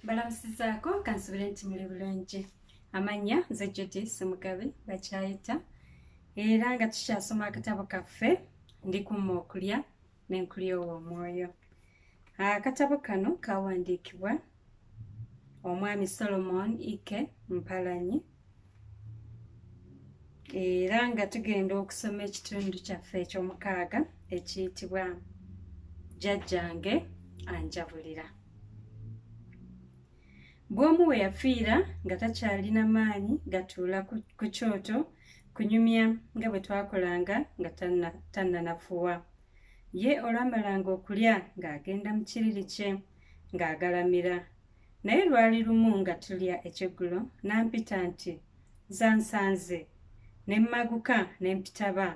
balamusizaako kansubire nti muli bulungi amanya nze judi simugabe bakyayita era nga tukyasoma akatabo kaffe ndi kumma okulya n'enkulyowa omwoyo akatabo kano kawandiikibwa omwami solomon ike mpalanyi era nga tugenda okusoma ekitundu kyaffe ekyomukaaga ekiyitibwa jajjange anjabulira bwomu we yafiira nga takyalina maanyi gatuula ku kyoto ku kunyumya nga bwe twakolanga nga tannanafuwa ye olwamalanga okulya ng'agenda mu kiriri kye ng'agalamira naye lwali lumu nga tulya ekyeggulo n'ampita nti zansanze ne mmaguka ne mpitaba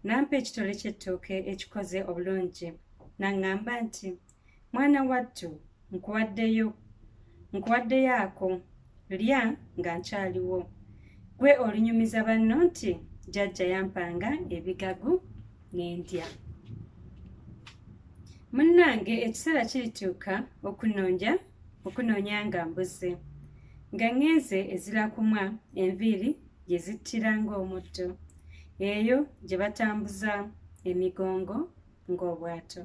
n'ampa ekitole ky'ettooke ekikoze obulungi n'aŋŋamba nti mwana wattu nkuwaddeyo nkuwaddeyo ako lya nga nkyaliwo gwe olunyumiza banno nti jajja yampanga ebigagu n'endya munnange ekiseera kirituuka okunonja okunoonya nga mbuze nga ŋŋenze ezirakumwa enviiri gye zittira ng'omutto eyo gye batambuza emigongo ng'obwato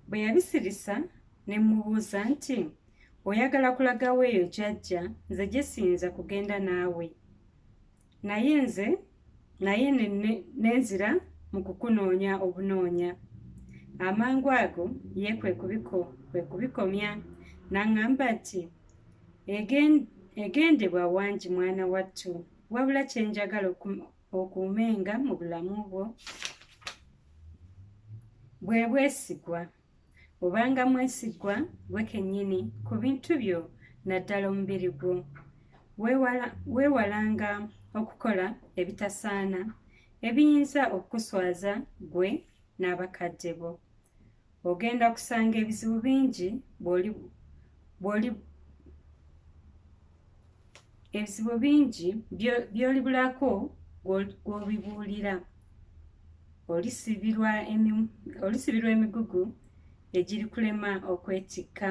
bwe yabisirisa ne mmubuuza nti oyagala kulagawo eyo jajja nze gye siyinza kugenda naawe naye nze naye nenzira mu kukunoonya obunoonya amangu ago ye kwe kubiko kwe kubikomya n'aŋŋamba nti egendebwa wangi mwana wattu wabula kye njagala okuumenga mu bulamu bwo bwe bwesigwa obanga mwesigwa gwe kennyini ku bintu byo naddala omubiri gwo weewalanga okukola ebitasaana ebiyinza okukuswaza gwe n'abakadde bo ogenda kusanga ebizibu bingi bwoli bwoli ebizibu bingi byoli bulako gwobibuulira olisibirwa emigugu egiri kulema okwetikka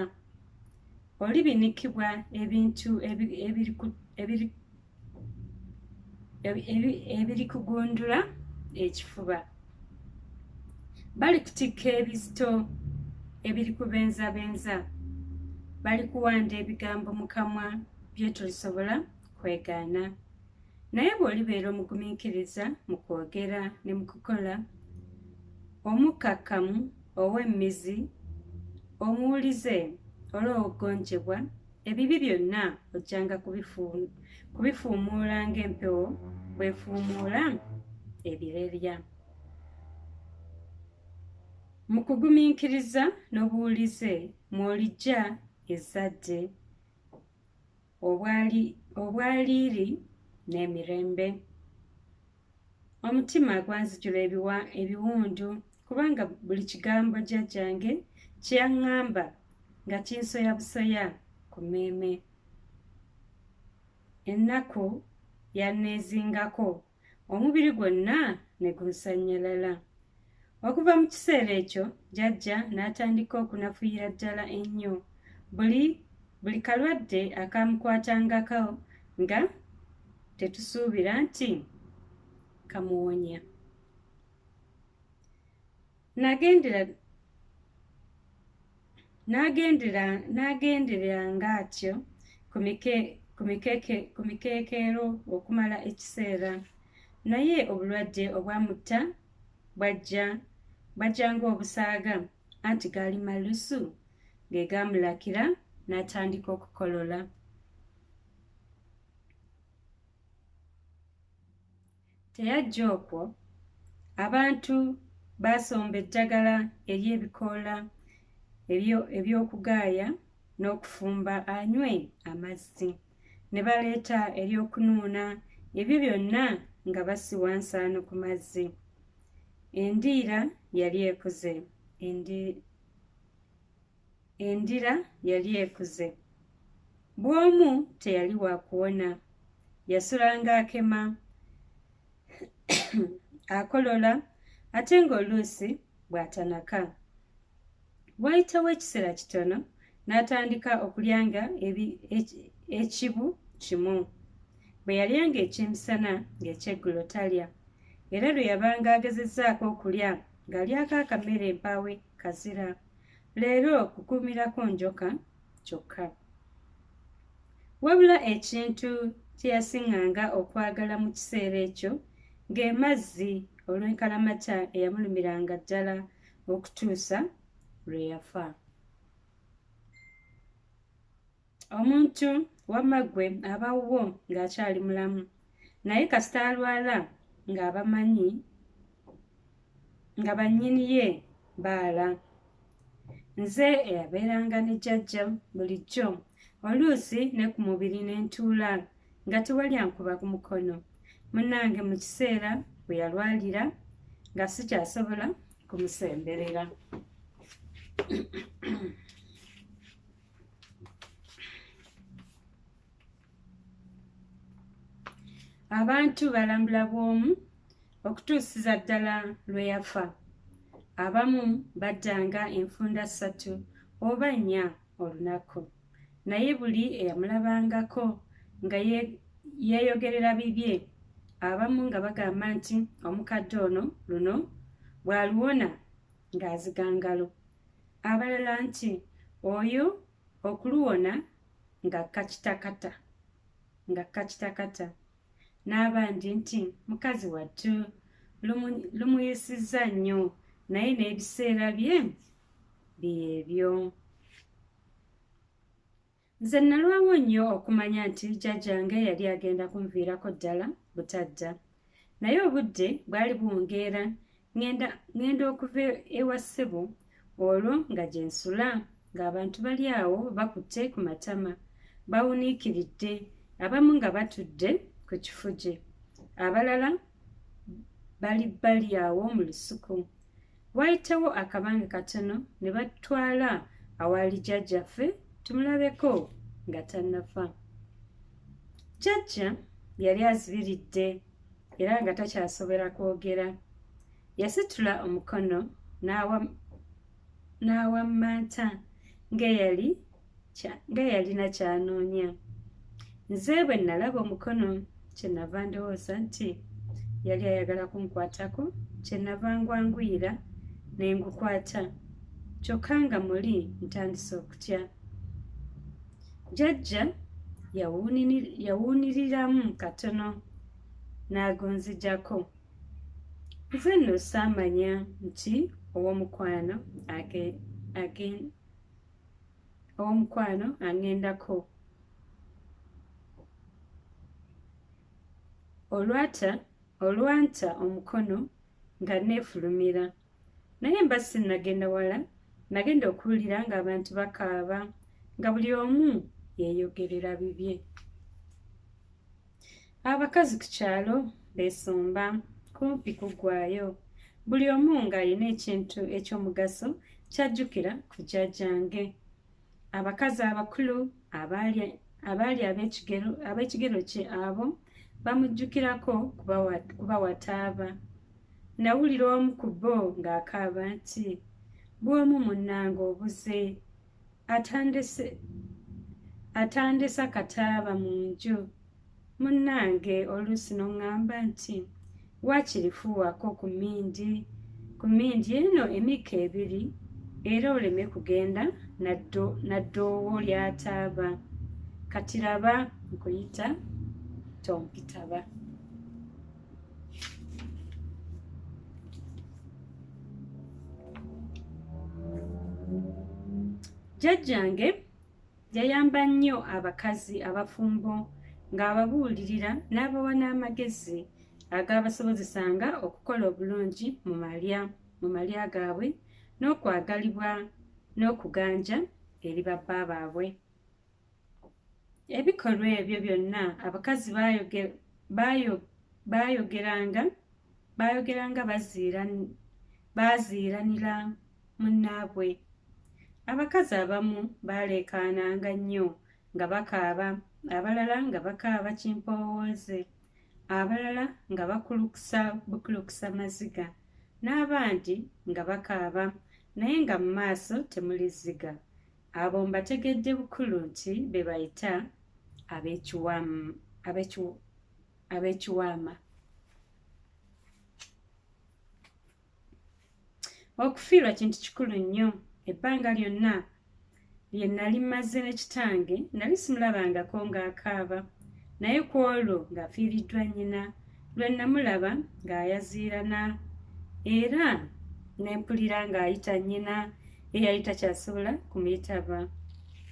olibinikibwa ebintu ebiri ebiri kugundula ekifuba bali kutikka ebizito ebiri kubenzabenza bali kuwanda ebigambo mu kamwa byetolisobola kwegaana naye bw'olibeera omugumiikiriza mu kwogera ne mu kukola omukkakkamu ow'emmizi omuwulize olw'okugonjebwa ebibi byonna ojjanga kubifuumuula ng'empewo bwefuumuula ebirerya mu kugumiikiriza n'obuwulize mw'olijja ezzadde obwaliiri n'emirembe omutima gwanzijula ebiwa ebiwundu kubanga buli kigambo jjajjange kye yaŋŋamba nga kinsoya busoya ku mmeeme ennaku yanneezingako omubiri gwonna ne gunsannyalala Okuva mu kiseera ekyo jajja n'atandika okunafuyira ddala ennyo. Buli buli kalwadde akaamukwatangako nga tetusuubira nti kamuwonya. Nagendera nagendera nagendereranga atyo ku mike ku mikeke ku mikekeero okumala ekiseera naye obulwadde obwamutta bwajja bajja ng'obusaaga anti gaali malusu ge gaamulakira n'atandika okukolola teyajja okwo abantu baasomba eddagala ery'ebikoola eby'okugaaya n'okufumba anywe amazzi ah, ne baleeta ery'okunuuna ebyo byonna nga basiwa nsaano ku mazzi endiira yali ekuze endira yali ekuze bw'omu teyali wa kuwona yasulanga akema akolola ate ng'oluusi bw'atanaka Waayitawo ekiseera kitono n'atandika okulyanga ekibu kimu. Bwe yalyanga eky'emisana ng'ekyeggulo talya, era lwe yabanga agezezzaako okulya ng'alyako akamere mpaawe kazira. Leero kukuumirako njoka kyokka. Wabula ekintu kye yasiŋŋanga okwagala mu kiseera ekyo ng'emazzi olw'enkalamata eyamulumiranga ddala okutuusa lwe yafa omuntu wamma ggwe aba wuwo ng'akyali mulamu naye kasita alwala ng'abamanyi nga bannyini ye baala nze eyabeeranga ne jjajja bulijjo oluusi ne ku mubiri ne ntuula ne nga tewali ankuba ku mukono munange mu kiseera bwe yalwalira nga sikyasobola kumusemberera abantu balambula bw'omu okutuusiza ddala lwe yafa abamu baddanga enfunda ssatu oba nnya olunaku naye buli eyamulabangako nga yeeyogerera bibye abamu nga bagamba nti omukadde ono luno bw'aluwona ng'azigangalo abalala nti oyo okuluwona nga kakitakata nga kakitakata n'abandi nti mukazi wattu lumuyisizza nnyo naye n'ebiseera bye byebyo nze nalwawo nnyo okumanya nti jjajjange yali agenda kunviirako ddala butadda naye obudde bwali buwungeera ŋŋenda okuva ewa ssebo olwo nga gye nsula ng'abantu bali awo bakutte ku matama bawuniikiridde abamu nga batudde ku kifuje abalala bali bali awo mu lusuku Waayitawo akabanga katono ne batutwala awaali jjajjaffe tumulabeko nga tannafa. Jjajja yali azibiridde era nga takyasobola kwogera yasitula omukono n'awammanta ng'eyali nga yalina kyanoonya nze bwe nalaba omukono kyenava ndowooza nti yali ayagala kunkwatako kyenava ngwanguyira ne ngukwata kyokka nga muli ntandise okutya jajja yawuuniriramu katono n'agunzijako nze nno saamanya nti ow'omukwano owomukwano aŋŋendako olwata olwanta omukono nga neefulumira naye mba sinnagenda wala nagenda okuwulira ng'abantu bakaaba nga buli omu yeeyogerera bibye abakazi ku kyalo beesomba kumpi kuggwayo buli omu ng'alina ekintu eky'omugaso kyajjukira ku jjajjange abakazi abakulu abaali ab'ekigero kye abo bamujjukirako kuba wataaba nawulira omu ku bo ng'akaaba nti bw'omu munnanga obuze atandise atandisa kataaba mu nju munnange oluusi noŋŋamba nti waakiri fuuwako ku mmindi ku mmindi eno emikka ebiri era oleme kugenda naddoowo lyataaba katiraba nkuyita tompitaba jjajjange yayamba nnyo abakazi abafumbo ng'ababuulirira n'abawa n'amagezi agaabasobozesanga okukola obulungi mu malya mu malya gaabwe n'okwagalibwa n'okuganja eri babba baabwe ebikolwa ebyo byonna abakazi baayogeranga baayogeranga baaziiranira munnaabwe abakazi abamu baaleekaananga nnyo nga bakaaba abalala nga bakaaba kimpoowooze abalala nga bakulukusa bukulukusa maziga n'abandi nga bakaaba naye nga mu maaso temuli zziga Abo mbategedde bukulu nti be bayita ab'ekiwaama. Okufiirwa kintu kikulu nnyo. Ebbanga lyonna lye nnali mmaze ne kitange nnali simulabangako ng'akaaba, naye ku olwo ng'afiiriddwa nnyina, lwe nnamulaba ng'ayaziirana era ne mpulira ng'ayita nnyina eyali takyasobola kumuyitaba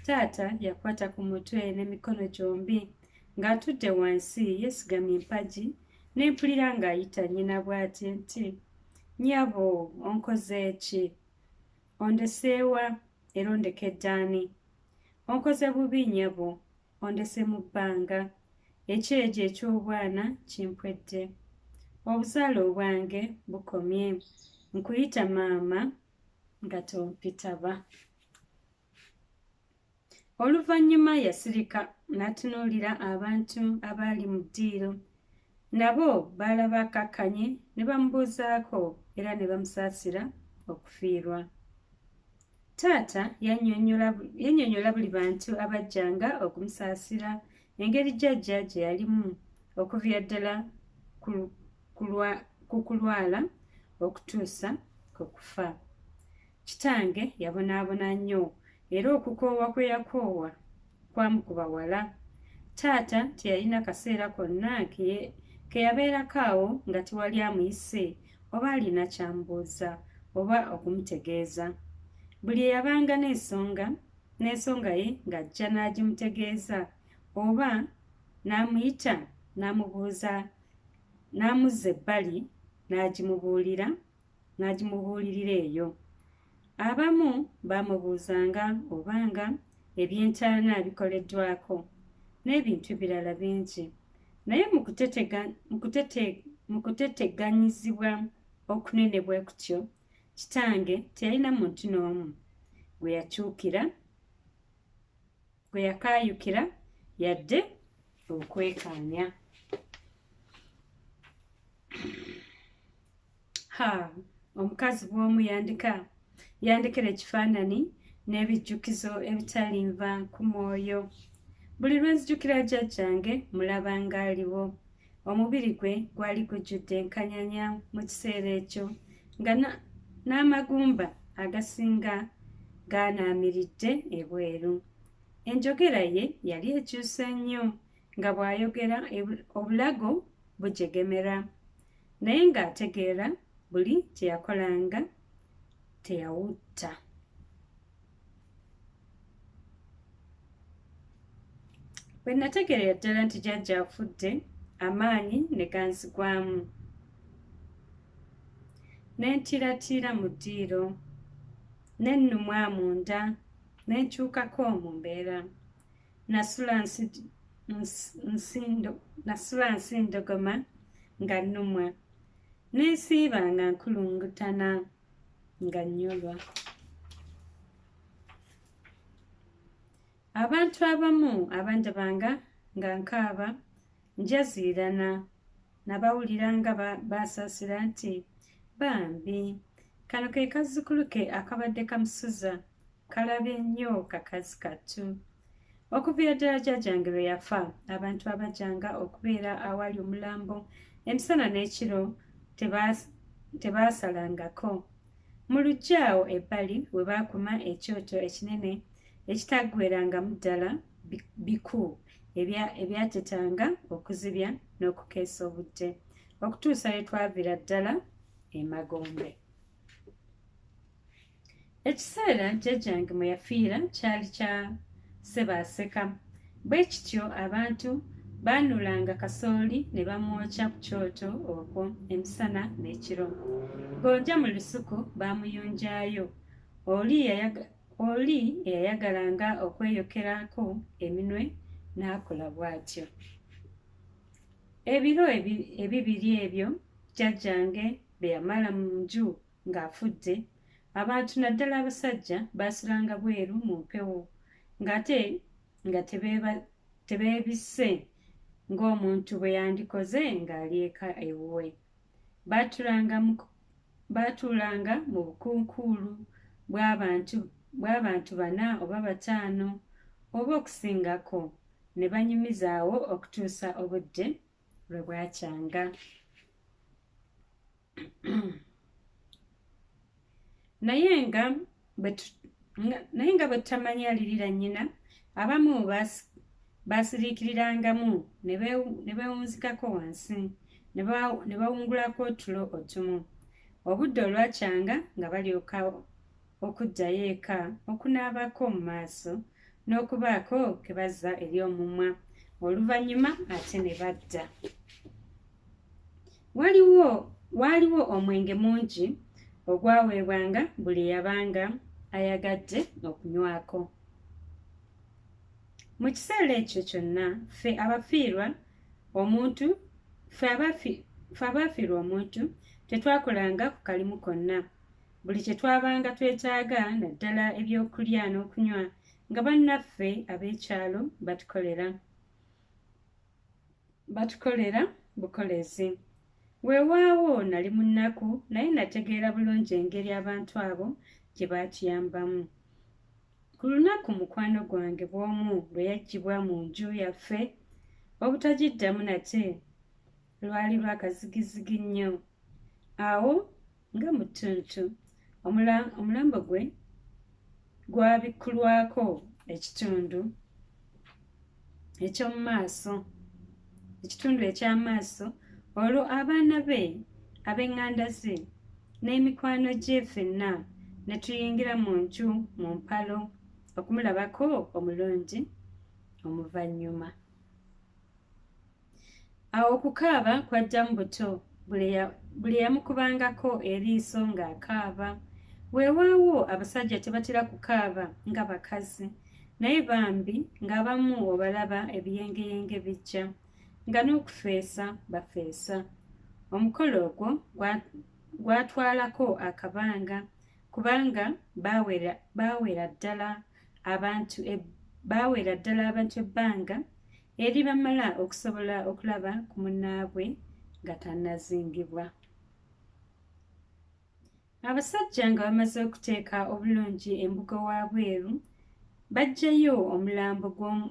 taata yakwata ku mutwe n'emikono gyombi ng'atudde wansi yeesigamye empagi ne mpulira ng'ayita nnyina bw'ati nti nyabo onkoze ki ondeseewa era ondekeddaani onkoze bubi nyabo Ondese mu bbanga, ekyejo eky'obwana kimpwedde. Obuzaale obwange bukomye, nkuyita maama nga tompitaba. Oluvannyuma yasirika n'atunuulira abantu abaali mu ddiiro Nabo baalaba akkakkanye ne bamubuuzaako era ne bamusaasira okufiirwa. Taata yannyonnyola buli bantu abajjanga okumusaasira engeri jjajja gye yalimu okuvira ddala ku kulwala okutuusa ku kufa. Kitange yabonaabona nnyo era okukoowa kwe yakoowa kwamukuba wala taata teyalina kaseera konna keyabeerako awo nga tewali amuyise oba alina kyambuuza oba okumutegeeza buli eyabanga n'ensonga n'ensonga ye ng'ajja n'agimutegeeza oba n'amuyita n'amubuuza n'amuzza ebbali n'agimubuulira n'agimubuulirira eyo. Abamu baamubuuzanga obanga eby'entaana bikoleddwako n'ebintu ebirala bingi. Naye mu kuteteganyizibwa okunene bwe kutyo, kitange teyalina muntu n'omu gwe yakyukira. bwe yakaayukira yadde okwekaanya ha omukazi bw'omu yandika yandekera ekifaanani n'ebijjukizo ebitalinva ku mwoyo buli lwe nzijukira jjajjange mulaba ng'aliwo omubiri gwe gwali gujjudde enkanyanya mu kiseera ekyo nga n'amagumba agasinga gaanaamiridde ebweru enjogera ye yali ekyuse nnyo nga bw'ayogera obulago bujegemera naye ng'ategeera buli kye yakolanga teyawutta bwe nategeerera ddala nti jajja afudde amaanyi ne ganzigwamu ne ntiiratiira mu ddiiro ne nnumwa munda ne nkyukako mu mbeera nasula nsindogoma nga nnumwa n'ensiiba nga nkulungutana nga nyolwa abantu abamu abandabanga nga nkaaba njaziirana nabawulira nga basaasira nti bambi kano ke kazzukulu ke akabadde kamusuza Kalabi nnyo kakazi kattu. Okuviira ddala jjajjange lwe yafa, abantu abajjanga okubeera awali omulambo emisana n'ekiro tebaasalangako. Mu luggya awo ebbali we baakuma ekyoto ekinene ekitaggwerangamu ddala biku ebyatetanga okuzibya n'okukeesa obudde okutuusa lwe twaviira ddala emagombe. ekiseera jjajjange mwe yafiira kyali kya sebaaseka bwe kityo abantu baanulanga kasooli ne bamwokya ku kyoto okwo emisana n'ekiro gonja mu lusuku baamuyunjaayo oli eyayagalanga okweyokerako eminwe n'akola bw'atyo ebiro ebibiri ebyo jjajjange bye yamala mu nju ng'afudde abantu naddala abasajja baasiranga bweru mu mpewo ng'ate nga tebeebisse ng'omuntu bwe yandikoze ng'ali eka ewuwe baatuulanga mu bukunkuulu bw'abantu bana oba bataano oba okusingako ne banyumizaawo okutuusa obudde lwe bwakyanga naye nga naye nga bwe tutamanya alirira nnyina abamu baasiriikirirangamu ne beewunzikako wansi ne bawungulako otulo otumu obudde olwakyanga nga balyoka okuddayo eka, okunaabako mu maaso, n'okubaako ke bazza eri omumwa, oluvannyuma ate ne badda. Waliwo waaliwo omwenge mungi ogwaweebwanga buli yabanga ayagadde okunywako. Mu kiseera ekyo kyonna ffe abafiirwa omuntu ffe abafiirwa omuntu tetwakolanga ku kalimu konna buli kye twabanga twetaaga naddala ebyokulya n'okunywa nga bannaffe ab'ekyalo batukolera batukolera bukolezi weewaawo nali mu nnaku naye nategeera bulungi engeri abantu abo gye baatuyambamu ku lunaku mukwano gwange bw'omu lwe yaggyibwa mu nju yaffe obutagiddamu nate lwali lwakazigizigi nnyo awo nga mu ttuntu omulambo gwe gwabikkulwako ekitundu eky'omu maaso ekitundu eky'amaaso olwo abaana be ab'eŋŋanda ze n'emikwano gye fenna ne tuyingira mu nju mu mpalo okumulabako omulungi omuvannyuma awo okukaaba kwajja mu buto buli eyamukubangako eriiso ng'akaaba weewaawo abasajja tebatera kukaaba nga bakazi naye bambi ng'abamu obalaba ebiyengeyenge bijja nga n'okufeesa bafeesa omukolo ogwo gwatwalako akabanga kubanga baawera ddala abantu e, baawera ddala abantu ebbanga eri bamala okusobola okulaba ku munnaabwe nga tannazingibwa abasajja nga bamaze okuteeka obulungi embuga wa bweru bajjayo omulambo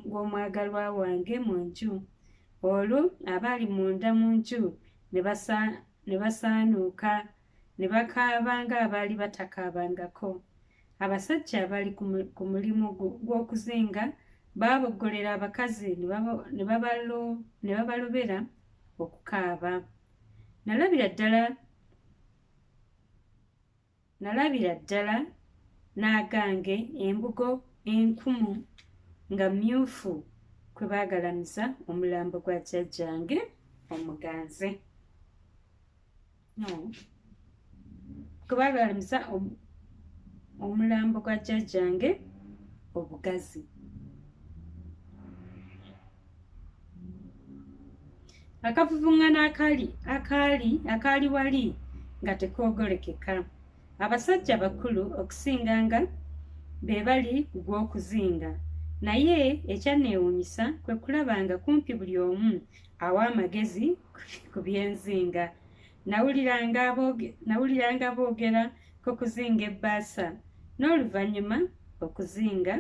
gw'omwagalwa wange mu nju olwo abaali munda mu nju ne basaanuuka ne bakaaba ng'abaali batakaabangako abasajja abali ku mulimu gw'okuzinga baaboggolera abakazi ne babalobera okukaaba nalabira ddala nalabira ddala n'agange embugo enkumu nga myufu kwe baagalamiza omulambo gwa jjajjange omuganze no kuba lwalimusa omulambo gwa jjajjange obugazi akavuvungana akali akaali akaali wali nga tekoogolekeka abasajja bakulu okusinga nga be bali ku gw'okuzinga naye ekyanneewuunyisa kwe kulaba nga kumpi buli omu awa amagezi ku byenzinga nawuliranga boogera ku kuzinga ebbaasa n'oluvannyuma okuzinga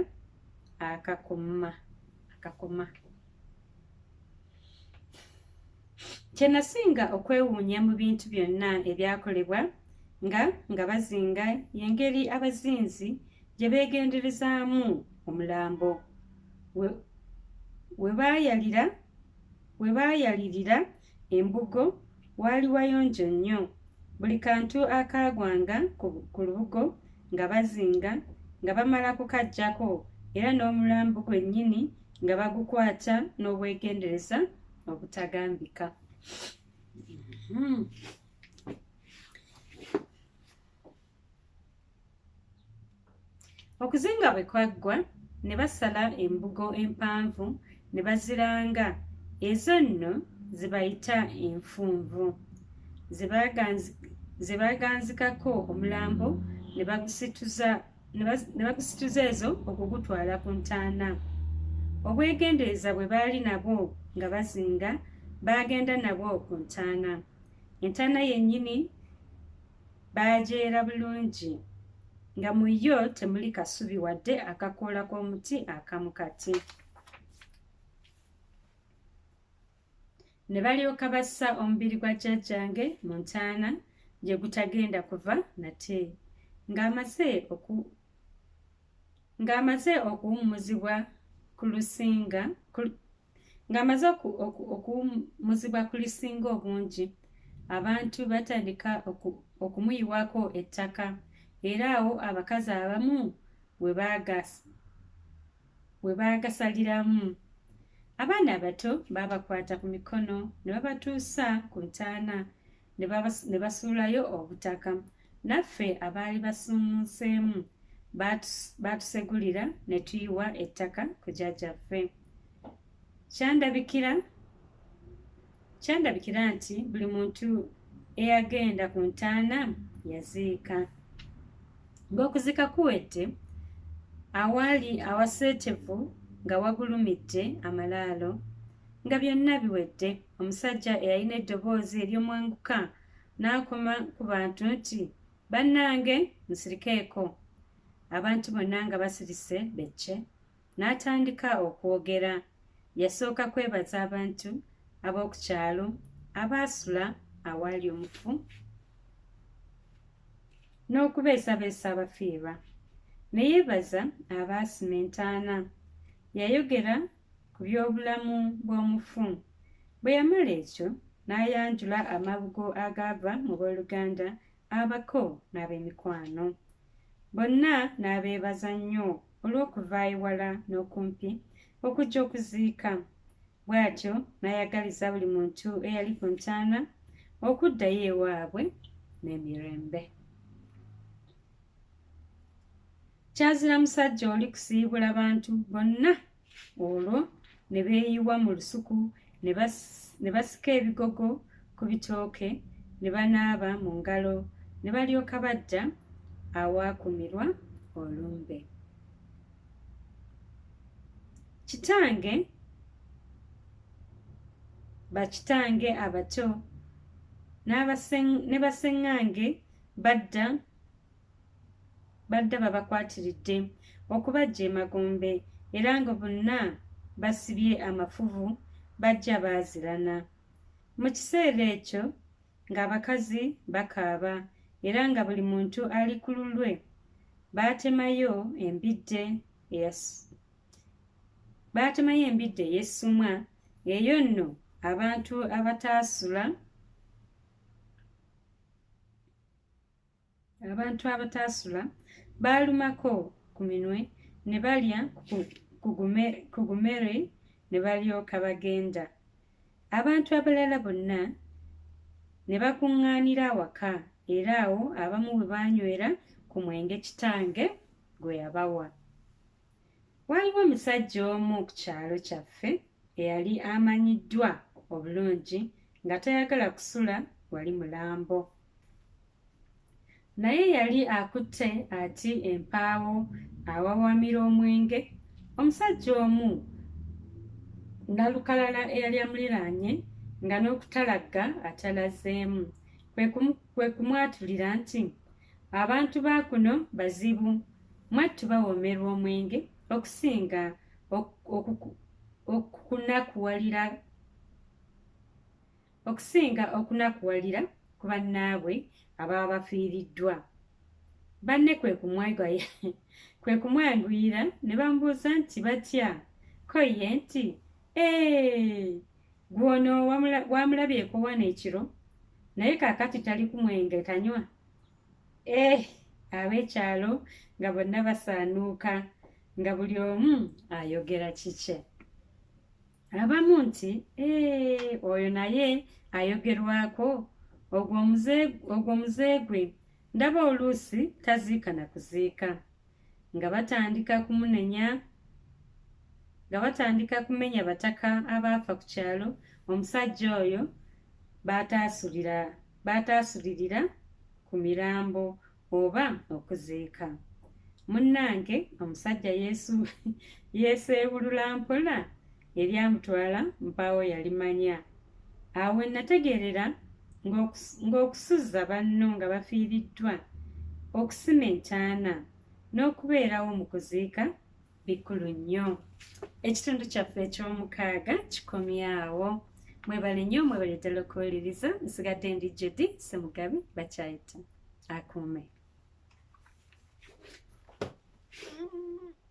akakuma akakuma kye nasinga okwewuunya mu bintu byonna ebyakolebwa nga nga bazinga y'engeri abazinzi gye beegenderezaamu omulambo we baayalira we We baayalirira embugo waali wayonjo nnyo. Buli kantu akaagwanga ku lubugo nga bazinga nga bamala kukaggyako era n'omulambo gwennyini nga bagukwata n'obwegendereza obutagambika. Hmm. okuzinga bwe kwaggwa ne basala embugo empanvu ne baziranga ezo nno zibayita enfunvu ze baaganzikako omulambo ne bagusituza ezo okugutwala ku ntaana obwegendereza bwe baali nabwo nga bazinga baagenda nabwo ku ntaana entaana yennyini baajeera bulungi nga mu yo temuli kasubi wadde akakoola k'omuti akamu kati ne balyoka bassa omubiri gwa jjajjange mu ntaana gye gutagenda kuva nate ng'amaze oku ng'amaze okuwummuzibwa ku lusinga ng'amaze okuwumuzibwa ku lisinga obungi abantu batandika okumuyiwako ettaka era awo abakazi abamu we baagasaliramu abaana abato baabakwata ku mikono ne babatuusa ku ntaana ne basuulayo obutaka Naffe abaali basuumuuseemu baatusegulira ne tuyiwa ettaka ku jajjaffe. Kyandabikira kyandabikira nti buli muntu eyagenda ku ntaana yaziika. Ng'okuziika kuwedde, awaali awaseetevu nga wagulumidde amalaalo. Nga byonna biwedde, omusajja eyalina eddoboozi ery'omwanguka n'akoma ku bantu nti bannange musirikeeko abantu bonna nga basirise becce n'atandika okwogera yasooka kwebaza abantu ab'oku kyalo abaasula awaali omufu n'okubeesabeesa abafiirwa ne yeebaza abaasima entaana yayogera ku by'obulamu bw'omufu. Bwe yamala ekyo, n'ayanjula amabugo agaava mu b'oluganda, abako, n'ab'emikwano. Bonna n'abeebaza nnyo olw'okuva ewala n'okumpi okujja okuziika. Bw'atyo n'ayagaliza buli muntu eyali ku ntaana okuddayo ewaabwe n'emirembe. kyazira musajja oli kusiibula bantu bonna olwo ne beeyiwa mu lusuku ne basika ebigogo ku bitooke ne banaaba mu ngalo ne balyoka bajja awaakumirwa olumbe kitange bakitange abato ne baseŋŋange badda badde babakwatiridde okubajja emagombe era nga bonna basibye amafuvu bajja baazirana mu kiseera ekyo ng'abakazi bakaaba era nga buli muntu ali ku lulwe baatemayo embidde baatemayo embidde ey'essumwa eyo nno abantu abataasula abantu abataasula baalumako ku minwe ne balya ku gumere ne balyoka bagenda abantu abalala bonna ne bakuŋŋaanira awaka era awo abamu bwe baanywera ku mwenge kitange gwe yabawa Waaliwo omusajja omu ku kyalo kyaffe eyali amanyiddwa obulungi nga tayagala kusula wali mulambo. Naye yali akutte ati empaawo awawamira omwenge, omusajja omu nalukalala eyali amuliraanye nga n'okutalagga atalazeemu kwe kumwatulira nti Abantu ba kuno bazibu mwattu bawoomerwa omwenge okusinga okukunakuwalira okusinga okunakuwalira ku bannaabwe ababa bafiiriddwa banne kwe kumwanguyira ne bamubuuza nti batya ko ye nti ee Gwe ono wamulabyeko wano ekiro naye kakati tali ku mwenge tanywa eh ab'ekyalo nga bonna basaanuuka nga buli omu ayogera kikye abamu nti eh, oyo naye ayogerwako ogwo muzeegwe ndaba oluusi taziika na kuziika nga batandika kumunenya nga batandika kumenya bataka abaafa ku kyalo omusajja oyo baataasulira baataasulirira ku mirambo oba okuziika munnange omusajja yesu yeeseebulula mpola eryamutwala mpaawo yalimanya awo we nategeerera ng'okusuzza banno nga bafiiriddwa okusima entaana n'okubeerawo mu kuziika bikulu nnyo ekitundu kyaffe eky'omukaaga kikomyawo mwebale nnyo mwebale ddala okuwuliriza nsigadde ndi jodi semugabi bakyayita akuume